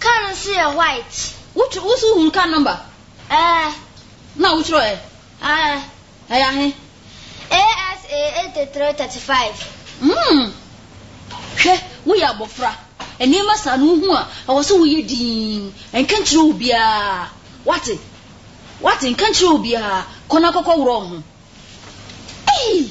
Car no nso yɛ white. Wo tw wo so hunu car number? Ɛɛ. Na wo twerɛ ɛ? Ɛɛ. Ɛyɛ ahe? ASA eighty three thirty five. Mm. Hwɛ, wo yɛ abɔfra. Nneɛma saa no wo hu a, ɛwɔ sɛ wo yɛ dinn. Nka nkyerɛ obiara. Wate? Wate? Nka nkyerɛ obiara. Kɔ na kɔ kɔ worɔ wo ho. Eii!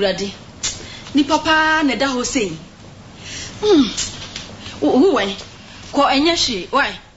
Awurade, nipa paa na ɛda hɔ sei. Mm, wo, wo wɛn, kɔ ɛnyɛ hwee, why?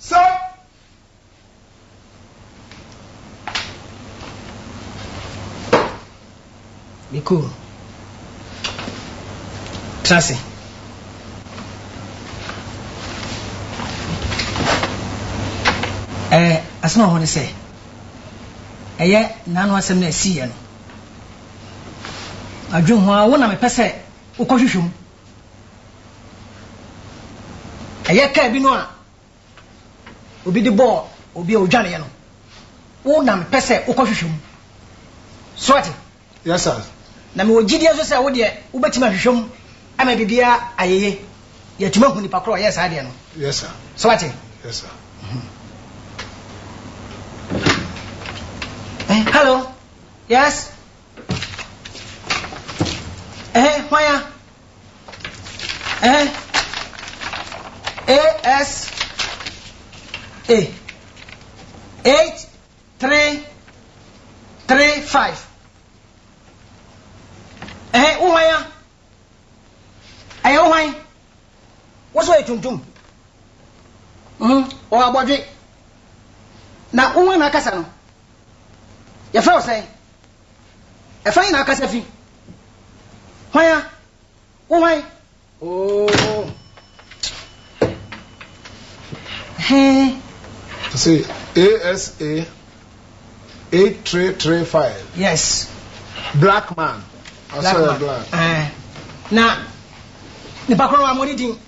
Sɛ Me koo tra se. Ɛɛ asem a wɔ hɔ ne sɛ, ɛyɛ n'ano asem na ɛsiiɛ no. Adwen ho ara, wo na mepɛ sɛ wokɔhwehwɛ mu. Ɛyɛ kaa bi no a obi de bɔɔ obi a odwaneeɛ no, wo na mepɛ sɛ wokɔhwehwɛ mu. So woate? Yes, sir. Na mewɔ gyidie nso sɛ wo deɛ wobɛtumi ahwehwɛ mu ama biribiara ayɛ yie. Yɛatumi ahu nipa korɔ a ɔyɛɛ saa adeɛ no. Yes, sir. So woate? Yes, sir. Hello? Yes? Ɛhɛ hwan a? Ɛhɛ AS A eight three three five ɛhɛ wo hwan a? Ɛyɛ wo hwan? Wo so yɛ tuntum. Mhm, wɔ abɔdwe. Na wo hwan na akasa no? Yɛfrɛ wo sɛn? Ɛfa nyina akasa fi. Hwan a? Wo hwan? Oo. Hee. Say ASA 8335. Yes. Black man. I saw a black. Eh. Na nipa koro wa mo di din.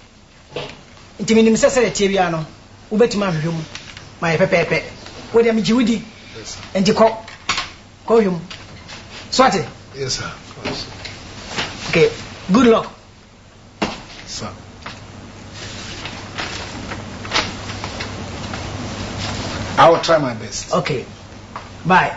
Nti menim sɛ sɛdeɛ ɛteɛ biara no, wobɛtumi ahwehwɛ mu ma ayɛ pɛpɛɛpɛ. Wei deɛ megye wo di, nti kɔ, kɔhwɛ mu. So ate? Yes sir, kɔ so. Okay, good luck. Sir. I will try my best. Okay, bye.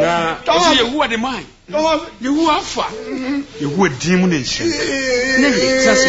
na ɔsɛ yehowa de mae yehowa afa yehowa din mu ne nhyɛ ne ne tase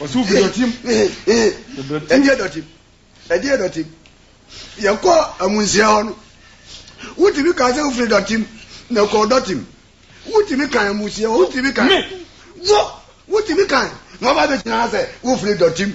ɔsɛ obi dɔte mu ɛdeɛ dɔte mu ɛdeɛ dɔte mu yɛkɔ amunsia hɔ no wotumi kaa sɛ wofiri dɔte mu na kɔɔ dɔte mu wotumi kan amunsia hɔ wotumi kan wɔ wotumi kan na ɔba bɛgyina sɛ wofiri dɔte mu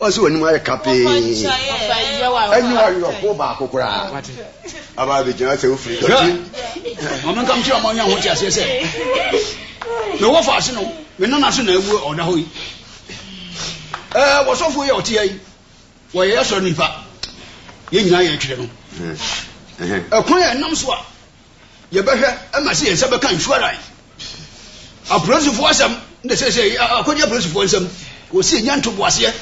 Ɔsi w'anim ayɛ kapee. Ɛnyɛ ɔwerɛhoɔ baako koraa. Aba abɛgyina sɛ wofiri dɔte. Ma menka nkyerɛ ma ɔnya ho te aseɛ sɛ me wɔfa ase no me nana so na awu ɔda hɔ yi. Ɛɛ wɔsɔfoɔ yi a ɔte ha yi wɔyɛ asɔre nipa yɛn nyinaa yɛtwerɛ no. Ɛkwan a ɛnam so a yɛbɛhwɛ ma sɛ yɛn nsa bɛka insurance apolisifoɔ asɛm na sɛsɛ akɔgye apolisifoɔ nsɛm wɔsi ɛnya ntoboaseɛ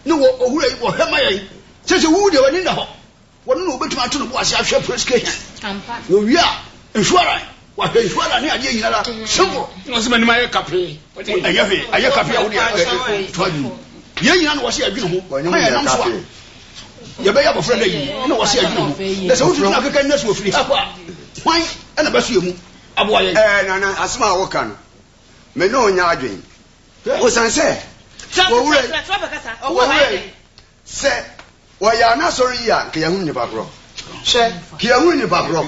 ne wɔ owura yi wɔhwɛ ma yɛn sɛ sɛ wowu deɛ w'ani nna hɔ wɔno na wɔbɛtumi ato no bo ase ahwɛ police station wɔwie a insurance wahwɛ insurance ne adeɛ nyinara simple ɔsɛ m'anim ayɛ kapee ɛnyɛ hwee ayɛ kapee a wode toa dwom yɛn nyina na wɔsɛ yɛadwene ho ma yɛnam so a yɛbɛyɛ abɔfra dɛ yi na wɔse adwene ho na sɛ wotutu no akeka nna so ɔfiri ha kɔ a hwan na bɛso yɛ mu aboa yɛn ɛɛ nana asɛm a woka no me ne ɔnya adwen wosan sɛ wɔwura wɔwura yi sɛ wɔyɛ anasɔre yi a nka yɛhunu nipa korɔ hwɛ ka yɛhunu nipa korɔ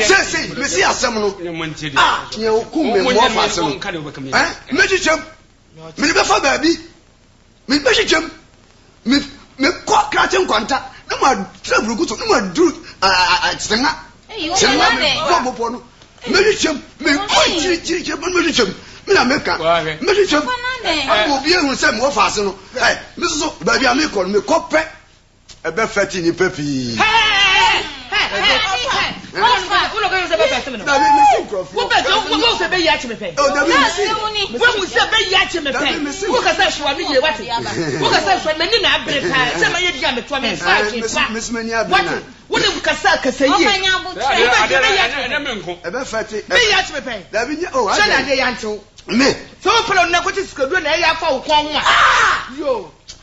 sɛsei mese asɛm no a yɛwokum me mmɔfa ase no mɛkyekyɛm mede bɛfa baabi Mebɛhyehyɛm, me mekɔ krakye nkwanta, na matrɛ buroku so, na maduru Tsena, Tsena me bɔ bepɔ no, mɛhyehyɛm, mekɔ akyirikyirikyiri bɔ no mɛhyehyɛm, me na meka, mɛhyehyɛm, ama obi ahu sɛ mewɔ faase no, ɛ, me soso baabi a mekɔ no mekɔ pɛ. Ɛbɛfɛte nnipa pii.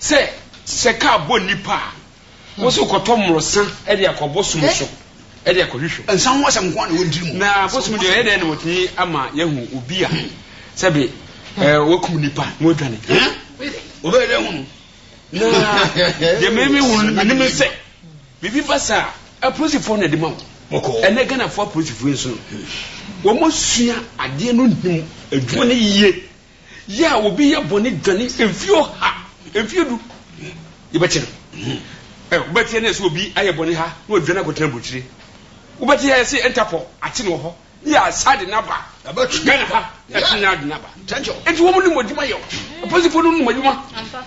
Sɛ sɛ car bɔ nnipa a, wo so kɔtɔ mmorɔsa de akɔ bosom so de akɔhwehwɛ. Nsa ho asɛm nko ara na wɔntiri mu. Na bosom deɛ ɔyɛ dɛn na wɔtumi ama yɛahu obi a sɛbe wakum nnipa na wadwane? Wɔbɛyɛ dɛn ahu no? Na deɛ mehunu menim ne sɛ biribi ba saa a, apolisifoɔ na ɛde ma wo. Ɛnɛ Ghanafoɔ apolisifoɔ yi nso no, wɔsua adeɛ no nim adwuma no yie. Yɛ a obi yɛ bɔne dwane mfie ɔha, mfie du, yɛbɛkye no. Ɛ, wobɛteɛ nnɛ sɛ obi ayɛ bɔne ha na wadwane akɔtena aburokyire? Wobɛte ha sɛ Interpol ate no wɔ hɔ, ne yɛasan de no aba Ghana ha, yɛasan de no aba. Enti wɔn nim adwuma yɛ o, apolisifo no nim adwuma.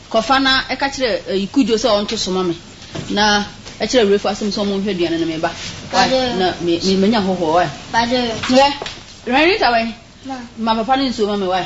Kɔfa na ka kyerɛ eh, Kudjo sɛ ɔnto so ma me, na kyerɛ Rafo asɛm sɛ wɔnhwɛ aduane no, me ba. Wai, na me, me, manya hɔhoɔ, wai. Hwɛ, hwɛ Rita wɛn, ma papa no nsuo ma me, wai.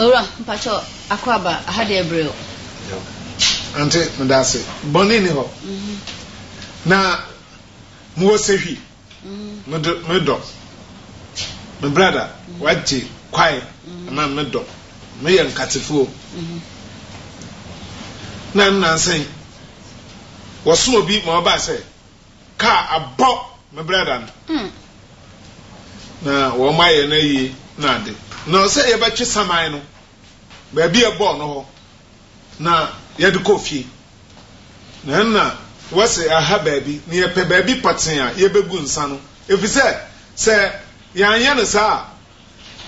Owura, mpakyɛw, akwaaba, ha deɛ ɛbrɛ o. Ante, medase. Bɔne nni hɔ. Na mowɔ sahwi. Me dɔ, me brada, wagye kwae ama me. Me dɔ, meyɛ Nkatefoɔ. Na nnansa yi, wɔsoma obi ma ɔbaa sɛ Car abɔ me brada no na wɔn ayɛ no ayie na ade na sɛ yɛbɛtwe saman no baabi a ɛbɔɔ no hɔ na yɛde kɔ fie na ɛna wɔse aha baabi na yɛpɛ baabi pɔtee a yɛbɛgu nsa no efisɛ sɛ yɛanyɛ no saa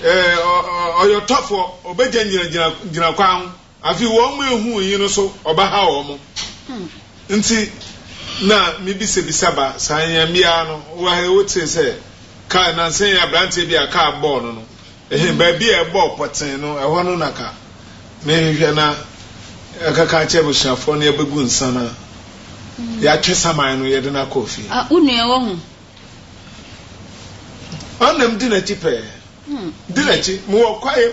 a ɔyɔtɔfoɔ ɔbɛgya gyinagyina kwan ho Afei wɔn ehu yi no so ɔbɛha wɔn nti na me bisabisa ba saa nyɛnbea no wɔ ha yi wo tee sɛ kaa nansa yi abranteɛ bi a kaa bɔɔ no no ɛhe baabi a ɛbɔɔ pɔtee no ɛhɔ no na ka me hwehwɛ na ɛkaka akyɛ abusuafoɔ no yɛbɛgu nsa na yɛatwe saman no yɛde no akɔ ofie. Ah wo nua wɔ ho. Ɔnam di n'akyi pɛɛ di n'akyi mewɔ kwae.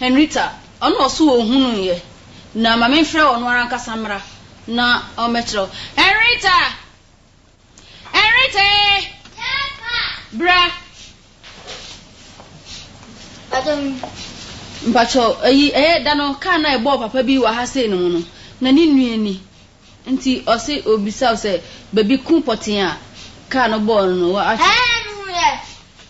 Henrietta, Ɔno ɔse ɔhunuu yɛ, na ma memfrɛ ɔno ara ankasa mmra na ɔmmɛkyerɛ wo. Henrietta! Henrietta ee! Yes, ma! Bra! Mpakyɛw yi. Mpakyɛw, ayi, ɛyɛ da no kaa no a ɛbɔɔ papa bi wɔ ha sei no mu no, na ne nua ni. Nti ɔse ɔbisa wo sɛ baabi ko pɔtee a kaa no bɔɔ no no, woakyerɛ. Ɛɛ, mehunu yɛ.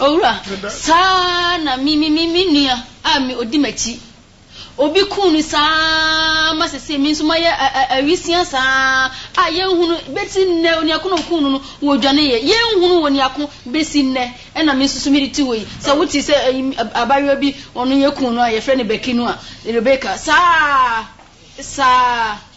Owura, saa ara na me, me, me, me nua a me, odi m'akyi, obi kuu no saa ara ma seesei me nso mayɛ a, a, awisiaa saa ara a yɛnhunu besi nnɛ, oniako na okuu no no, wɔdwaneeɛ. Yɛnhunu oniako besi nnɛ. Ɛna me nso so mede te hɔ yi. Sɛ wote sɛ ɛyi, abaayewa bi, ɔno yɛkuu no a, yɛfrɛ no Becky no a, Rebecca, saa ara, saa ara.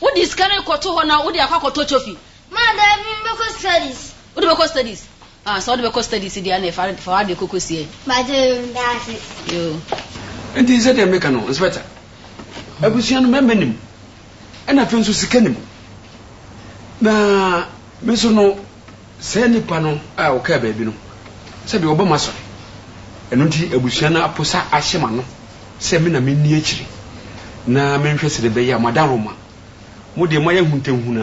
Wode sika no rekɔto hɔ na wode akɔ akɔtɔ coffee. Maa daabi me bɛkɔ studies. Wode bɛkɔ studies? Ah sɛ wode bɛkɔ studies deɛ ɛneɛ fa fa w'adeɛ kɔkɔ sie. Mpakyɛ yoo ndaase. Yoo. Nti sɛdeɛ meka no Inspector, abusua no mmarima nim ɛna afei nso sika nim na me nso no Saa nnipa no a wɔkaa baabi no, sɛdeɛ wɔba m'asɔre, ɛno nti abusua no aposa ahyɛ m'ano sɛ me na menni akyire na menhwɛ sɛdeɛ ɛbɛyɛ a moada Roma. Mo deɛ, moayɛ ahuntahuna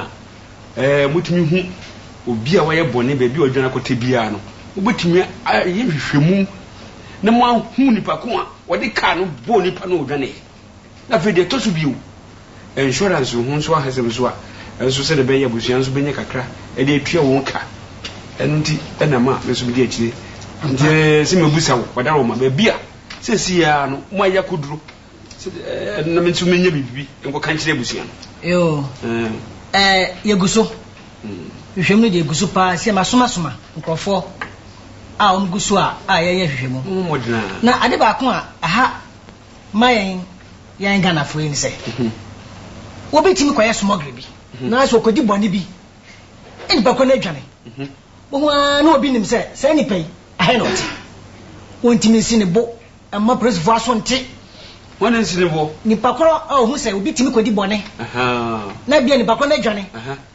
a, ɛɛ, motumi hu obi a wayɛ bɔne baabi a ɔdwane akɔtɛ biara no, mobɛtumi ayɛ nhwehwɛmu na moahu nipa ko a wɔde kaa no bɔɔ nnipa no a ɔdwaneeɛ. Na afei deɛ ɛtɔ so bio, insurance ho nso ahasɛm nso a nso sɛdeɛ ɛbɛyɛ abusua nso bɛnya kakra de atua wɔn ka. Ɛno nti na ma me nso medi akyire. Nti sɛ mɛbusa wo, Wadaroma, baabi a seesei ara no moayɛ akɔduro sɛ ɛɛ na me nso mɛnya biribi nkɔka nkyerɛ abusua no? Yoo, ɛɛ yɛgu so. Nhwehwɛmu no deɛ ɛgu so pa ara. Seesei masomasoma nkurɔfoɔ a wɔgu so a a yɛyɛ nhwehwɛmu. Mommɔ mmɔden ara. Na ade baako a ɛha. ma yɛn yɛn Ghanafoɔ yi ne sɛ, wɔbɛtumi kɔyɛ smuggling bi, nanso wɔkɔdi bɔne bi, nnipa kɔ no adwane. Wohu ara na obi nim sɛ saa nipa yi, ɛha na ɔte. Wɔntumi nsi ne bo mma polisifoɔ aso nte. Hwan na nsi ne bo? Nipa korɔ a ɔhu sɛ obi tumi kɔdi bɔne, na bia nipa korɔ no adwane.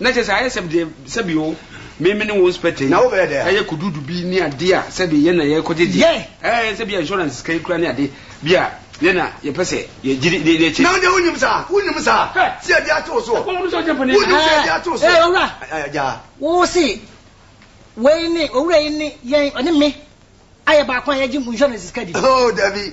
Na kyerɛ sɛ ayɛ sɛ deɛ sɛbi o memene wo nspɛtɛ yi ɛyɛ kududu bi ne adeɛ a sɛbi yɛn na yɛkɔ gyegye ɛɛ sɛbi a insurance sika yi kura ne ade bi a yɛn na yɛpɛ sɛ yɛgyiri ne yɛkyɛ. Na wo deɛ wo nim saa wo nim saa sɛ yɛde ato wo so wo nim sɛ yɛde ato wo so. Ɛɛ owura wo se wei ne owura yi ne yɛn ɔne me ayɛ baako a yɛgye insurance sika bi. Hoo dabi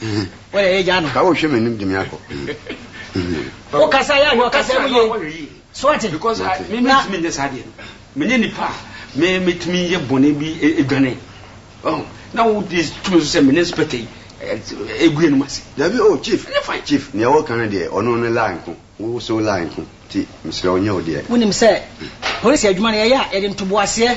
Ka wo hwɛ m'anim de me akɔ. Wo kasa yɛ ahwɛ ɔkasa mu yie. So ate? Because me me tumi nyɛ saa deɛ no. Me nyɛ nipa a me me tumi yɛ bɔne bi edwane. Oh, na wo di tumi so sɛ me ne spɛtɛ yi egu yɛn mu ase. Dabi oh chief. Ɛnyɛ fine. Chief nea ɛwɔ kan no deɛ ɔno ne lie nko. Wo so lie nko. Ti mesrɛ wo nyɛ wo deɛ. Wo nim sɛ polisi adwuma no yɛ yɛ a yɛde ntoboaseɛ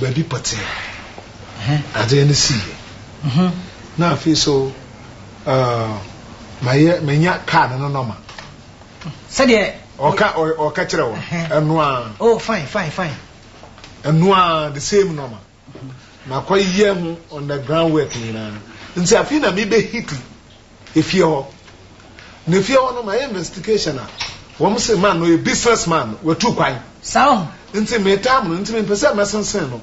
baabi pɔtsee ho adze no sii. Na afei so, mayɛ menya kaar no no nɔma. Sɛdeɛ. Ɔka ɔka kyerɛ wɔ ɛno ara. Oh fine fine fine. Ɛno ara the same nɔma. Makɔ yɛ ho on the ground work nyinaa nti afei na mebɛ hiti Efie hɔ. Na efie hɔ no mayɛ investigation a wɔn se man no ɔyɛ business man watu kwan. Saa wɔ ho. Nti me time no nti me mpɛ sɛ mɛsensen no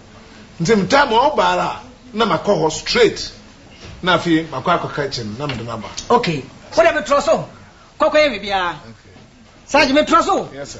nti me time a ɔba ara a na ma kɔ hɔ straight na afei makɔ akɔ ka kyɛ no na mede no aba. Okay wo deɛ me trɔ so kɔ kɔ yɛ biribiara. Sarge me trɔ so o. Yes sir.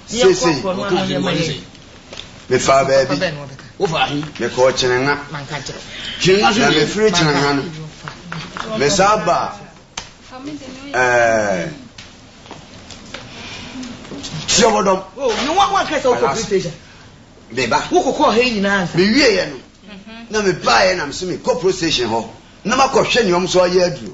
Seesei mefaa baabi, mekɔɔ Kyenenha, na mefiri Kyenenha no, mesan baa ɛɛ Siɔbɔdɔm. Anaasɛ meba. Mewieeɛ no, na mebaeɛ na mese mekɔ police station hɔ na makɔhwɛ nea wɔn nso ayɛ aduro.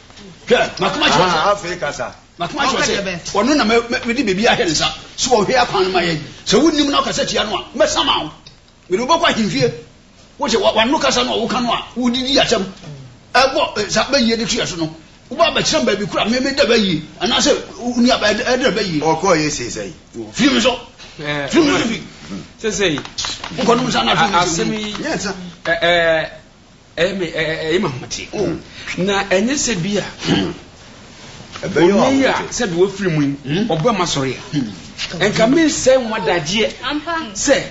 hwɛ makoma kyerɛ sɛ afei kasa makoma kyerɛ sɛ ɔno na mede biribi ahwɛ ne nsa sɛ ɔhwɛ akwan no ma yɛn sɛ wonnim na ɔkasa tia no a mɛsama wo mede wobɛkɔ ahemfie wote wano kasa no a woka no a wodidi asɛm ɛbɔ eh, sa bɛyie de tuɛ so no wobɛ abɛkyerɛ baabi kora meme da bɛyie anaasɛ woni aba ɛdɛ bɛyie ɔkɔɔ yɛ sei sɛi firi me so eh, firi me so fi sɛsɛi wokɔnom sa no asɛm yi Ɛyɛ me ɛyɛ me ahometeɛ. Oh. Na ɛnyɛ sɛ bi a. Hmm. Ɛbɛyɛ wɔn ahometeɛ. Onii a sɛ bi wɔfiri mu yi, hmm. ɔbɛ ma sɔre a. Hmm. Nka mi nsɛ nwa dadeɛ sɛ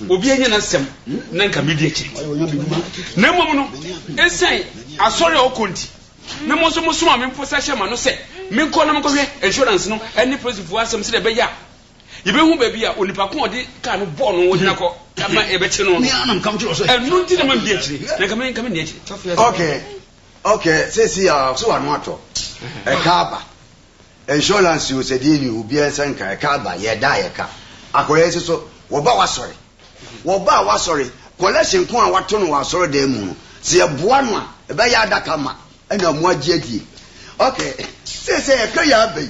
obi anya n'asɛm na nka mi di akyiri. Na mmom no, ɛsɛn asɔre a ɔkɔ nti, na mo nso mo soma mi mpo sɛ hyɛ ma no sɛ menkɔ na menkɔhwɛ insurance no ɛne polisifoɔ asɛm sɛ ɛbɛyɛ a Yɛbɛhu baabi a onipa ko a ɔde kaa no bɔɔ no gyina kɔ ma yɛbɛkye no no. Ɛno nti na mamdi akyire, na anka me nka menni akyire. Okay, okay, seesei a ɔse w'ano atɔ. Ɛka aba. Insurance o, sɛdeɛ nni hɔ, obiara nsa nka. Ɛka aba, yɛda a yɛka. Akwadaa yi se so, wɔba w'asɔre. Wɔba a w'asɔre, collection ko a wato no wɔ asɔredan mu no, sɛ yɛboa no a, ɛbɛyɛ adaka ma, ɛna moagye adie. Okay, seesei a yɛka yi aba yi,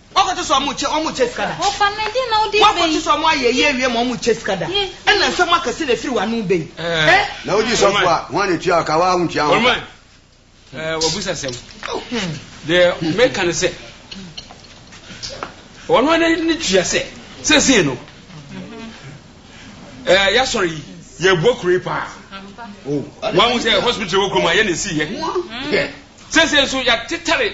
Wɔkɔte sɛ ɔmo kyɛ ɔmo kyɛ sika da. Wɔfa me de na wode bɛyi. Wɔkɔte sɛ ɔmo ayɛ ayi awie ma ɔmo kyɛ sika da. Ɛna nsɛm akɛse na efiri w'ano ba yi. Ɛ. Na wodi sɔfo a, hwan na etua wo ka? Woaa wontua ho ka. Ɔman, ɛɛ w'abusa sɛm. Deɛ meka ne sɛ, wɔn ara na ne tua sɛ, seesei no, ɛɛ y'asɔre yi, yɛɛboa kuro yi paa. Wɔahu sɛ hospital wɔ kurom ha, yɛn na esii yɛ. Seesei nso y'atetare.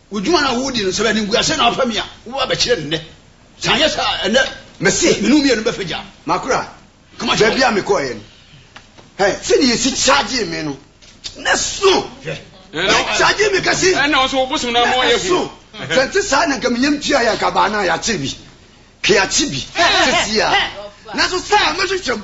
Wo dwuma no a woredi no, sɛ animguase na wofa mi a, wobɛba abɛkyerɛ no nnɛ. Sɛ anyɛ saa a, ɛnnɛ Mese, me ne wo mmienu bɛfa gya. Makora, Kama kyerɛ wɔn. baabi a mekɔeɛ no, hwɛ, sɛdeɛ yɛsi kyagyee me no, na ɛsõ. Hwɛ, yɛkyagyee me kɛse, Ɛnna wo nso wo bosom no ama na woayɛ hu. ɛsõ. Sɛ ɛnte saa a, na anka me yam tuaeɛ, anka abaa no a yɛakyere bi, ka yɛakye bi seesei ara. Nanso saa a, mɛhwehwɛ mu.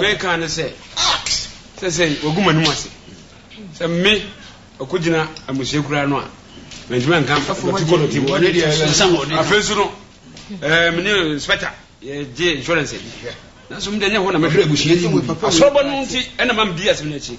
meka ne sɛ sɛ sɛ wagu m'anim ase sɛ me ɔkɔgyina amusua kura no a mantumi anka afei nso no mene inspector yɛgye insurance nanso mede nyɛ hɔ na mɛhwɛ abusua yi mu asɔrɔbɔ no nti ɛna ma medi asɛm no akyi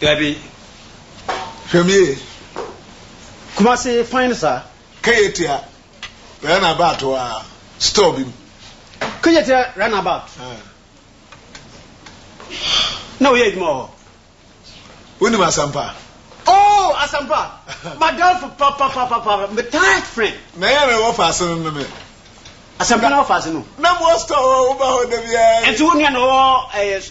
Dabi. Hwɛ me yie. Kumasi fine saa. Keyetia run about wɔ store bi mu. Keyetia run about. Na woyɛ adwuma wɔ hɔ. Wonim Asampa? Oh Asampa m'adamfo papapapa me tight friend. Na yɛn na wɔ faase no no me. Asampa na wɔ faase no. Na mo wɔ store hɔ woba hɔ da biara. Nti wo nua na ɔwɔ ɛɛ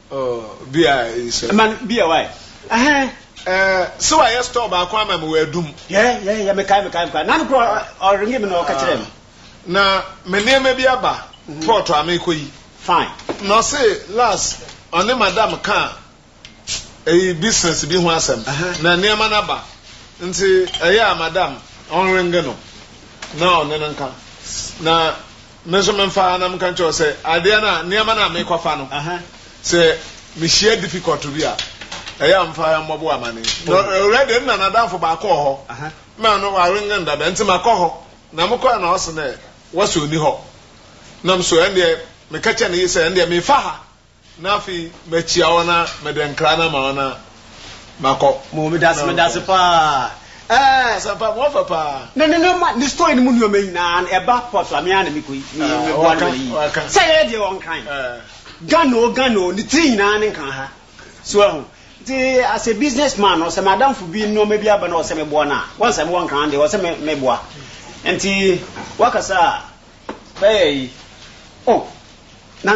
Oh bia nsɛ. Man bia why ɛhɛn. Eh sɛ wa yɛ store baako ama me wɔ adum. Yɛ yɛ yɛ me kae me kae me kae nanu kura ɔringi me na ɔka kyerɛ me. Na me nneɛma bi aba port a me kɔ yi. Fine. Na ɔse last ɔne madam ka eyi business bi ho asɛm na nneɛma no aba nti ɛyɛ a madam ɔnringi no na ɔne no nka na. Me nso memfaa na meka nkyerɛ wo sɛ adeɛ no a, nneɛma no a mekɔfa no, sɛ mehyia difficult bi a, ɛyɛ a mfa mmɔbo amane. Na already nna n'adamfo baako wɔ hɔ, na ɔno ware ngan dada nti makɔ hɔ. Na mekɔɛ na ɔse dɛ wɔse ɔnni hɔ. Nam so ɛndeɛ meka kyerɛ ne yere sɛ ɛndeɛ mefa ha Na afei makyia wo na mede nkra no ama wo na makɔ. Mo medase medase paa ɛɛ. Asɛmpa mo afa paa. Ne ne nneɛma ne story no mu nneɛma nyinaa no ɛba pɔ so a me ara na me kɔ yi me me boa no ma ne yi sɛ yɛyɛ deɛ ɔnkran Ghana o Ghana o ne tiri nyinaa ne nka ha so ahu nti as a business man no sɛ m'adamfo bi nneɛma bi aba na ɔsɛ me boa no a wɔn sɛ me wɔ nkran deɛ ɔsɛ me me boa nti wakasa a. Bɛyɛ yi oh na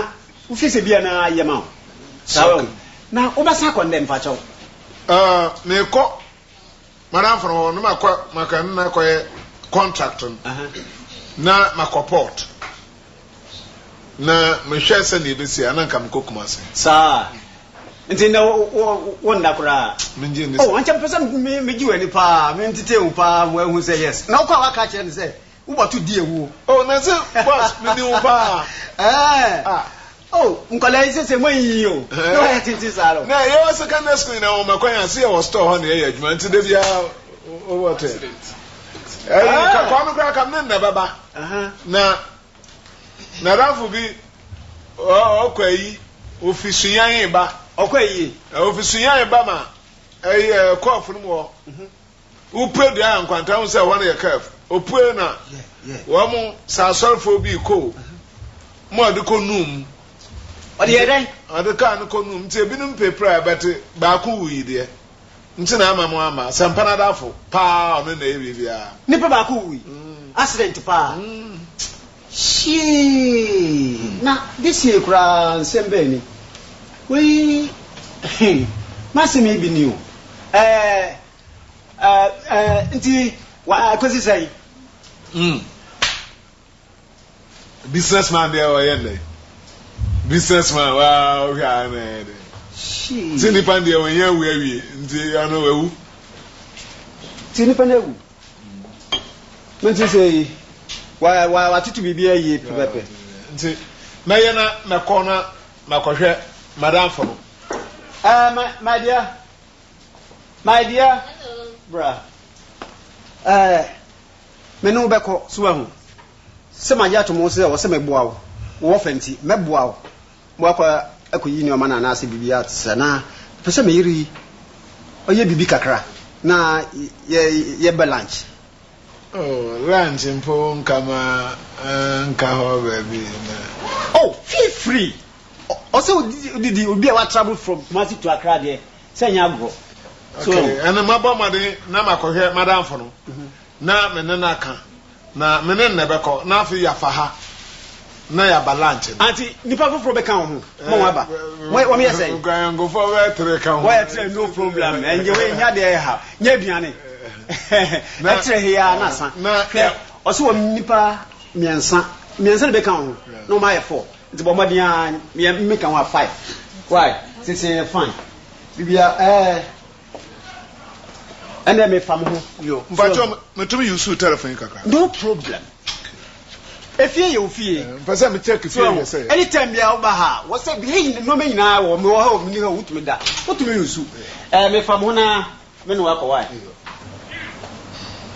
wofi sɛ bia na yɛ ma wo saa wɛ wo na wo bɛsan akɔ ndɛ mfa kyɛw. Ahh mekɔ madamfo no hɔ na makɔ maka ne no akɔyɛ contract no na makɔ port na mehwɛ sɛnea ɛbɛsi a na nka mekɔ Kumasi. Saa nti ndɛ wo nda koraa. Mengye nni saa. Oh ankyɛ mepɛ sɛ megye w'ani paa mentetee wo paa ma wahu sɛ yes na wokɔ a woaka akyerɛ no sɛ. Wo bɔto di awu o. Oh nanse boss me ni wo paa. Ɛɛɛ ah. Oh nkwadaa yi sese mo anyiyi o. Na wayɛ tenten saa no. Na yɛwɔ secondary school nyinaa wɔma kwan a so yɛwɔ store hɔ na yɛyɛ adwuma nti da biara wo bɔto yɛ. Ɛyi ka kwame koraa ka me ne no na ɛbɛba na nadamfo bi ɔkɔ ayi ofi suyan ba. Ɔkɔ ayie. Ofi suyan ba ma ɛyi ɛkɔ afurum hɔ. Wopue dua yɛ nkwanta ho sɛ wɔn yɛ kaf opue na wɔn sɛ asɔrfoɔ bi kɔ o mo ɔde kɔ num ɔde yɛ dɛn ɔde kaa no kɔ num nti ebinom pɛ pira bɛte baako wu yi deɛ nti na ama mo ama sɛ mpana dafo paa ɔno na ɛyɛ biribiara nipa baako wu yi mm. accident paa mm. Hyii! Na de siei koraa nsɛm bɛn ni? Wei he, m'asɛm yi bi ni o, ɛɛ, ɛɛ, nti w'akosi sɛn? Hmm. Business man deɛ ɔyɛ nnɛ. Business man, waa, wohwɛ a na ɛyɛ dɛ. Hyii! Nti nnipa deɛ wɔn nyɛ awu awie, nti ɔno wawu. Nti nnipa no awu? Mo ti sɛ yi wa wa watoto biribi ayie pɛpɛpɛ. Nti mɛyɛ na mɛkɔ na makɔhwɛ madamfo no. Ɛɛ eh, my my dear my dear bra ɛɛ eh, me ne wo bɛkɔ so ahu sɛ magye ato mo sɛ wɔ sɛ mɛboa wo wɔ ɔfa nti mɛboa wo. Moakɔ akɔyi nneɛma no anaasɛ biribi a saa. Na mepɛ sɛ me yere yi, ɔyɛ biribi kakra na yɛ, yɛbɛ lunch. Oh, lunch mpo nka ma nka hɔ baabi na. Oh, feel free! Ɔsɛ wodidi, obi a wa travel from Kumasi to Accra deɛ, sɛ nyɛ agorɔ. So. Okay, ɛnna mabɔ mmɔden na makɔhwɛ m'adamfo no na me ne no aka. Na me ne no na ɛbɛkɔ, na afei yɛafa ha na yɛaba lunch no. Aunty, nnipa foforɔ bɛka wo ho ma wɔaba. Wɔ, wɔyɛ sɛn? Nkranyankofoɔ bɛyɛ tere ka ho. Wɔyɛ tere, no problem. Ɛnyɛ wei, nya deɛ ɛha, nya aduane. Ɛtere he aa na asa. Hwɛ, ɔse wɔn nnipa mmiɛnsa, mmiɛnsa na ɛbɛka wo ho, na wɔn ayɛ four. Nti bɔ mmɔden aa, me meka ho a five. Wai, sese yɛ fine, biribiara, ɛɛ. Ɛnna me fa mo ho. Yo, mpatsɔ me tumi use u telephone yi kakra. No problem. Efie yɛ ofie. Eh, mpɛ sɛ me check fie yɛ sɛ. Any time bia woba ha, wɔ sɛ bia yi nneɛma nyinaa wɔ me wɔ ha o, me ni ha o, wotumi da. Wotumi use u. Eh, me fa mo ho na me ne wakɔ wae.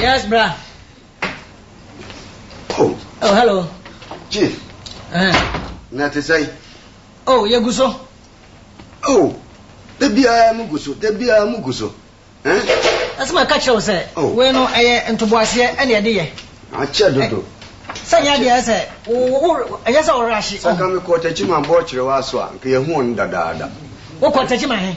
Yes, bra. Oh. Oh, hello. Chief. Eh. Na te sɛn? Oh, yɛ gu so. Oh. Da biara mu gu so, da biara mu gu so. Eh? Ɛsɛ ma ɛka kyerɛ wo sɛ, oh. wei no ɛyɛ ntoboaseɛ ɛne ɛde yɛ. Akyɛ dodo. Eh, sɛ nyɛ adeɛ sɛ, ɛnyɛ sɛ ɔwerɛ ahye. Sɛ ka mekɔ ɔtakyi ma bɔɔ kyerɛ wɔ aso a, nka yɛhu ɔno dadaada. Wokɔ ɔtakyi ma he?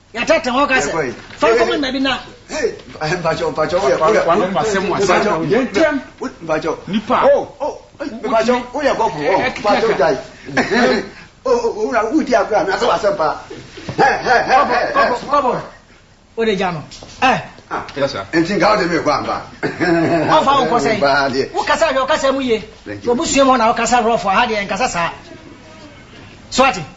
Yɛatɛɛtɛ hɔ ka sɛ, Fa nkɔma nna bi na. Wode gya no ɛ? Ɔmfa wo nkɔ sɛn? Wokasa hwɛ, ɔkasa mu ye. W'abusua mu hɔ na wokasa rough, ha deɛ yɛnkasa saa. So ate?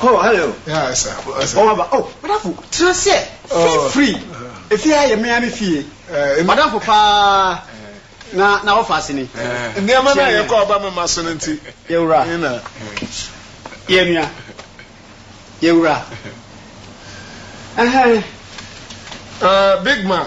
Oh, hello. Yeah, sir. Oh, sir. Oh, aba. Oh, madamfo, tena ase. Feel oh. free. Uh-huh. Efi ha yɛ mmea me fie. Eh, madamfo paa. Na na wɔfa ase ni. Eh. Nneɛma na yɛ kɔ ɔba mema so no nti. Yɛwura. Yɛna. Yɛnua. Yɛwura. Uh-huh. Uh, big man.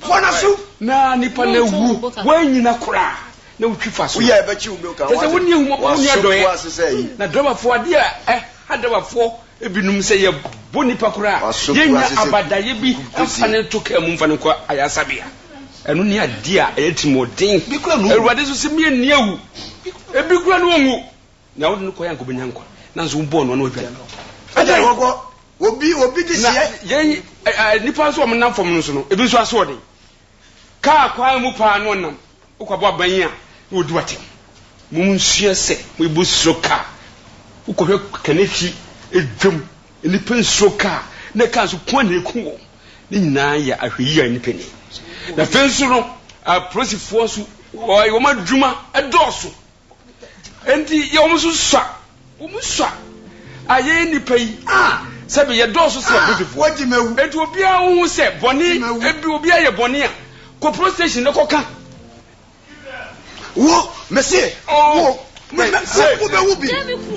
Fa no so. Na nipa no awu, woanyina koraa na wotwi fa so. Kyerɛ sɛ wonni ahummɔbɔ, wonni adɔeɛ. Na Drabafoɔ, adeɛ a ɛha Drabafoɔ binom sɛ yɛbɔ nnipa koraa a, yɛnnya abadaeɛ bi mfa no nto kaa mu mfa no nkɔ ayaresabea. Ɛno ne adeɛ a ɛyɛ atirimuɔden. Awurade nso se, Menni awu. Ebi koraa no ɔnwu. Nea wode no kɔe anka obenya nkwa, nanso wobɔɔ no a na wadwan. Ɛdeɛn? Wɔkɔ, obi, obi de Na hyɛ. yɛn ɛ, ɛ, nnipa nso a wɔnam fam no so no, ebi nso asoɔden. Kaa kwan mu paa na ɔnam. Wokɔbɔ abɛn yi a, na odi w'atɛm. Munsua sɛ mobu suro kaa. Wokɔhwɛ Kanehyi dwam, nnipa nsuro kaa, na kaa nso ko a na eku wɔn. Ne nyinaa yɛ ahwɛyiye a nnipa nni. Na afei nso no, apolisifoɔ nso, wɔyɛ wɔn adwuma dɔɔso. Enti yɛ wɔn so sua, wɔn sua a yɛyɛ nnipa yi, sɛbe yɛdɔɔso sen Abritifoɔ. Enti obiara wo ho sɛ bɔne, ebi obiara yɛ bɔne a, kɔ police station na kɔka. Wo, mese, wo, me, me, wo bɛwu bi.